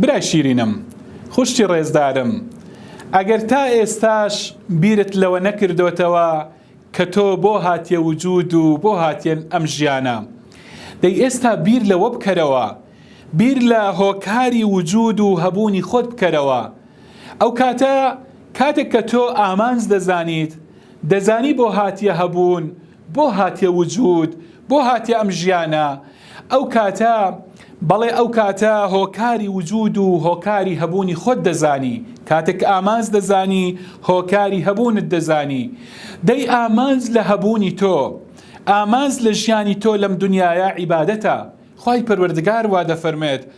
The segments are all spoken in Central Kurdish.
برای شیرینم، خوشکی ڕێزدارم، ئەگەر تا ئێستاش بیرت لەوە نەکردۆتەوە کە تۆ بۆ هاتیە وجود و بۆ هاتیە ئەم ژیانە، دەی ئێستا بیر لەوە بکەرەوە، بیر لە هۆکاری وجود و هەبوونی خۆت بکەرەوە، ئەو کاتە کاتێک کە تۆ ئامانج دەزانیت، دەزانی بۆ هاتیە هەبوون، بۆ هاتیە وجود؟ بۆ هاتیە ئەم ژیانە؟ ئەو کاتە، بەڵێ ئەو کاتە هۆکاری وجود و هۆکاری هەبوونی خۆت دەزانی، کاتێک ئامانج دەزانی هۆکاری هەبوونت دەزانی. دەی ئامانج لە هەبوونی تۆ، ئامانج لە ژیانی تۆ لەم دنیایە عیبادەتە. خوای پەروەردگار وا دەفەرموێت،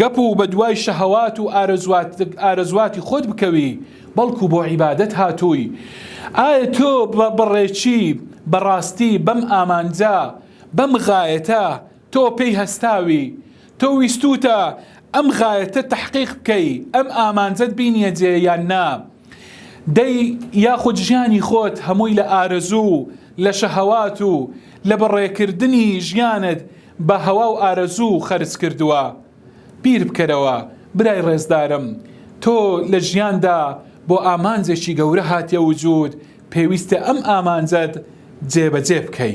گەپ و بەدوای شەهەوات و ئارەزواتی خۆت بکەوی بەڵکو بۆ عیبادەت هاتووی ئایا تۆ بەڕێکی بەڕاستی بەم ئامانجە بەم غایەتە تۆ پێی هەستاوی تۆ ویستوتە ئەم غایەتە تەحقیق بکەی ئەم ئامانجەت بینیە جێ یان نا دەی یاخود ژیانی خۆت هەمووی لە ئارەزوو لە شەهەوات و لە بەڕێکردنی ژیانت بە هەوا و ئارەزوو خەرج کردووە بیر بکەرەوە برای ڕێزدارم تۆ لە ژیاندا بۆ ئامانجێکی گەورە هاتیە وجود پێویستە ئەم ئامانجەت جێ بە جێ بکەی.